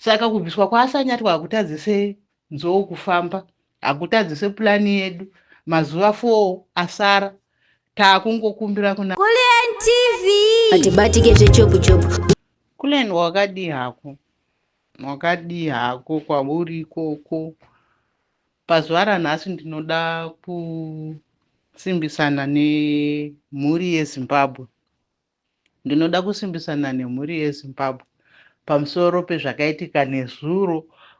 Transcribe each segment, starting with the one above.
Saka kubviswa kwaAsanyatwa hakutadzise Nzou kufamba, hakutadzise plan yedu. Mazuva four asara, takungokumbira kuna. Kulliant TV. Hatibatike zvechopu chopu. Kulliant wakadii hako? Wakadii hako kwauri ikoko? Pazuva ranhasi ndinoda kusimbisana nemhuri yeZimbabwe. Ndinoda kusimbisa nane mhuri yeZimbabwe pamusoro pezvakaitika nezuro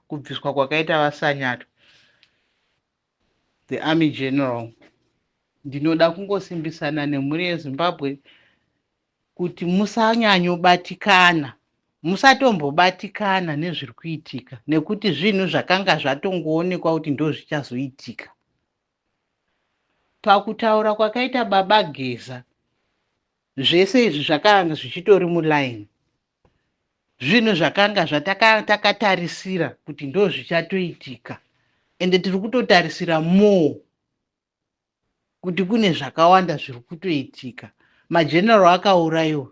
kubviswa kwakaita vaSanyatwa, the army general. Ndinoda kungosimbisana nemhuri yeZimbabwe kuti musanyanyobatikana, musatombobatikana nezviri kuitika nekuti zvinhu zvakanga zvatongoonekwa kuti ndozvichazoitika. Pakutaura kwakaita baba Geza zvese izvi zvakanga zvichitori muline. Zvinhu zvakanga zvataka takatarisira kuti ndozvichatoitika ende tiri kutotarisira more kuti kune zvakawanda zviri kutoitika. Mageneral akaurayiwa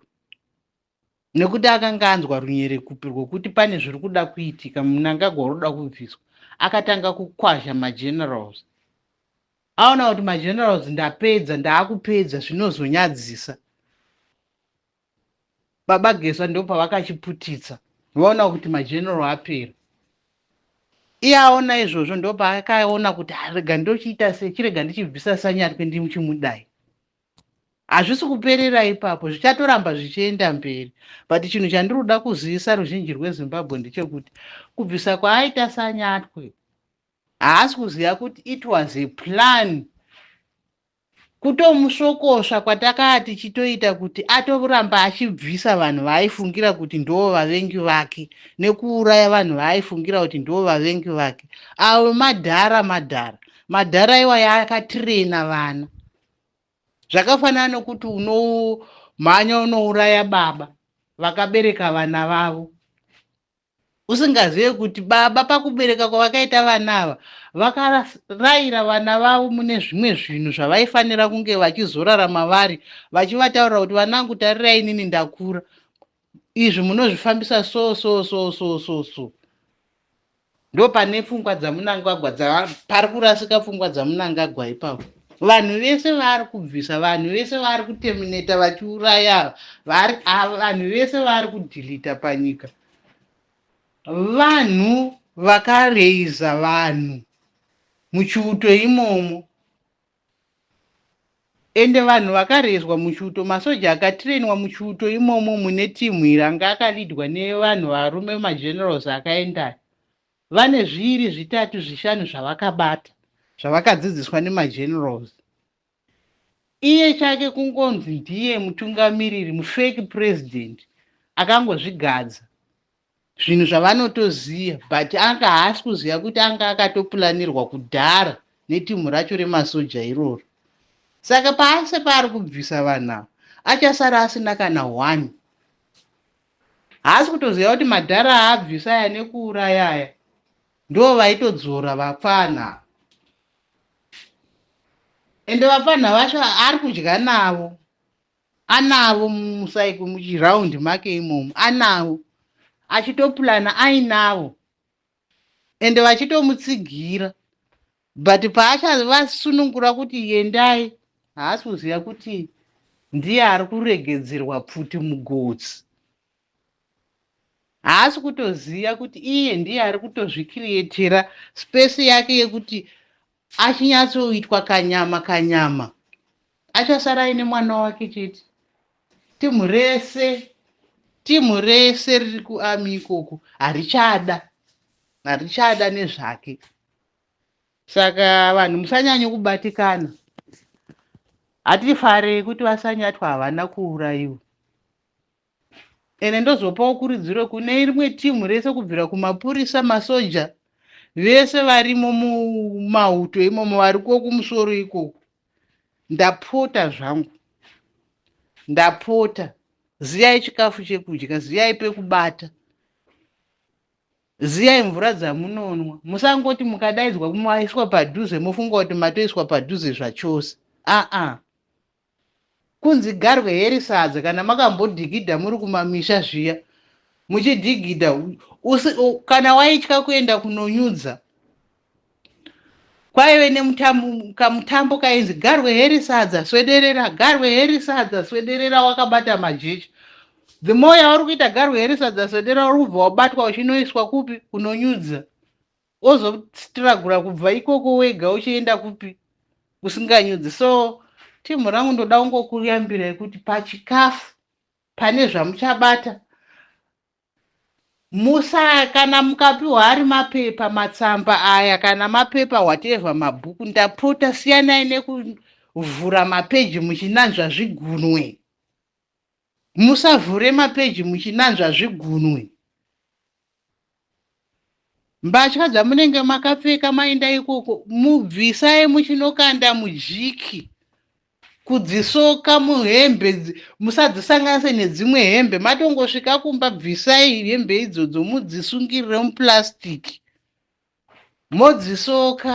nekuti akanga anzwa runyerekupi rwekuti pane zviri kuda kuitika munangagwa unoda kubviswa akatanga kukwazha magenerals aona kuti magenerals ndapedza ndaakupedza zvinozonyadzisa baba geswa ndo pavakachiputitsa vaona kuti mageneral apera iye aona izvozvo ndo paakaona kuti arega ndochiita se chirega ndichibvisa sanyatwe ndimuchimudai Hazvisi kuperera ipapo, zvichatoramba zvichienda mberi but chinhu chandiri kuda kuzivisa ruzhinji rweZimbabwe ndechekuti kubvisa kwaaita Sanyatwe haasi kuziva kuti it was a plan kutomusvokosva kwatakaa tichitoita kuti atoramba achibvisa vanhu vaaifungira kuti ndoo vavengi vake nekuuraya vanhu vaaifungira kuti ndoo vavengi vake avo madhara madhara madhara iwaya akatirena vana zvakafanana nokuti unomhanya unouraya baba vakabereka vana vavo usingazive kuti baba pakubereka kwavakaita vana ava vakaraira vana vavo mune zvimwe zvinhu zvavaifanira kunge vachizorarama vari vachivataurira kuti vanangu tarirai inini ndakura izvi munozvifambisa so so so so so so ndo pane pfungwa dzamunangagwa dza pari kurasika pfungwa dzamunangagwa ipapo vanhu vese vaari kubvisa vanhu vese vaari kutemineta vachiuraya vari ava vanhu vese vaari kudhilita panyika vanhu vakareiza vanhu muchiuto imomo Ende vanhu vakarezwa muchiuto masoja akatrainwa muchiuto imomo mune team iri anga akalidwa nevanhu varume magenerals akaendayo vane zviiri zvitatu zvishanu zvavakabata zvavakadzidziswa nemagenerals iye chake kungonzi ndiye mutungamiriri mufake president akangozvigadza zvinhu zvavanotoziva but anga haasi kuziva kuti anga akatopulanirwa kudhara netimhu racho remasoja iroro saka paase paari kubvisa vanhu ava achasara asina kana one haasi kutoziva kuti madhara aabvisa aya nekuuraya aya ndo vaitodzora vapfana ava ende vapfanha vacho ari kudya navo anavo musaiko muchiround make imomo anavo achitopulana ainavo ende vachitomutsigira but paachavasunungura kuti yendai haasi kuziva kuti ndiye ari kuregedzerwa pfuti mugotsi Haasi kutoziva kuti iye ndiye ari kutozvikiriyetera space yake yekuti achinyatsoitwa kanyama kanyama achasara aine mwana wake chete. Team rese team rese riri kuarmy ikoko harichada harichada nezvake. Saka vanhu musanyanye kubatikana. Hatifarei kuti vasanyatwa havana kuurayiwa. ende ndozopawo kuridziro kune rimwe timu rese kubvira kumapurisa masoja vese varimo mumauto imomo variko kumusoro ikoko ndapota zvangu ndapota ziyai chikafu chekudya ziyai pekubata ziyai mvura dzamunonwa musangoti mukadaidzwa maiswa padhuze mofunga kuti matoiswa padhuze zvachose aa Kunzi garwe here sadza kana makambodhigidha muri kumamisha zviya muchidhigidha kana waitya kuenda kunonyudza kwaive nemutambo kainzi garwe heri sadza swederera garwe heri sadza swederera wakabata majecha the more yauri kuita garwe heri sadza swederera uri kubva wabatwa uchinoiswa kupi kunonyudza wozostragura kubva ikoko wega uchienda kupi usinganyudzi so team rangu ndoda kungokuyambirai kuti pachikafu pane zvamuchabata musa kana mukapiwa ari mapepa matsamba aya kana mapepa whatever mabhuku ndapota siyanai nekuvhura mapeji muchinanzva zvigunwe Musavhure mapeji muchinanzva zvigunwe. Mbatya dzamunenge makapfeka mainda ikoko mubvisai muchinokanda mujiki kudzisoka muhembe musadzisanganise nedzimwe hembe matongosvika kumba bvisai hembe idzodzo mudzisungirire muplastic modzisoka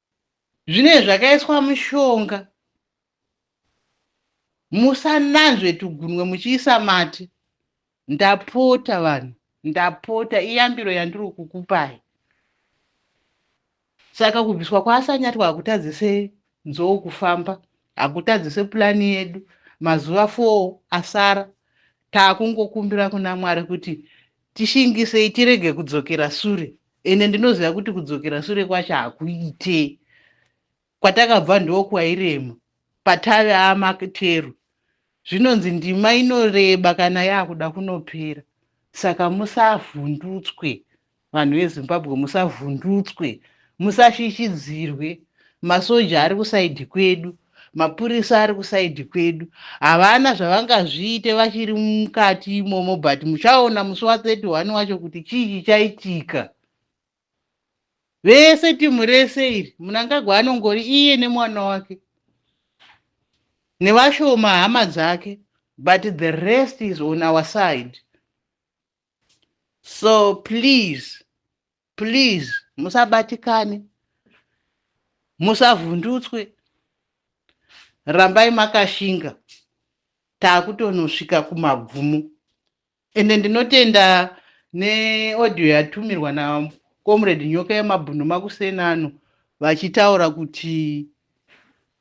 Zvinenge zvakaiswa mushonga. Musananzve tugunwe muchiisa mate. Ndapota vanhu, ndapota iyambiro yandiri kukupai. Saka kubviswa kwaasanyatwa hakutadzise nzou kufamba, hakutadzise pulani yedu. Mazuva four asara Takungokumbira kuna Mwari kuti tishingisei tirege kudzokera sure ende ndinoziva kuti kudzokera sure kwacho hakuite kwatakabva ndokwairema patave amakteru zvinonzi ndima inoreba kana yakuda kunopera saka musavhundutswe Vanhu veZimbabwe musavhundutswe, musasvitshidzirwe. Masoja ari kusaidhi kwedu, mapurisa ari kusaidhi kwedu. Havana zvavangazviite vachiri mukati imomo but muchaona musi wa 31 wacho kuti chii chichaitika. Vese timu rese iri Mnangagwa anongori iye nemwana wake nevashoma hama dzake but the rest is on our side. so please please musabatikane musavhundutswe rambai makashinga taakutonosvika kumagumo ende ndinotenda neaudio yatumirwa nacomrade nyoka yemabhunu makuseni ano vachitaura kuti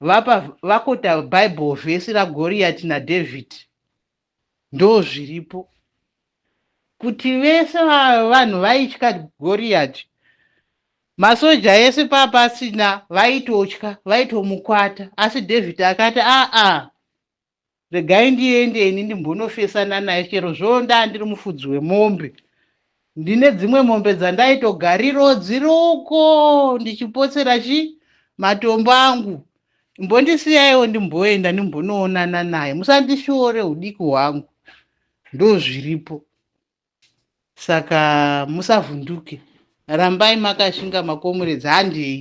vapa vakota bible vhesi ragoriyati nadhavhidhi Ndozviripo kuti vese vanhu vaitya Goriati. Masoja ese papasina vaitotya, vaitomukwata. Asi David akati, aa, regai ndiende ini ndimbonofesana naye chero zvoo ndaa ndiri mufudzi wemombe. Ndine dzimwe mombe dzandaitogarirowo dziri uko ndichipotsera chi matombo angu mbondisiyaiwo ndimboenda ndimbonoonana naye musandishoore udiki hwangu ndozviripo saka musavhunduke rambai makashinga makomuredzi handei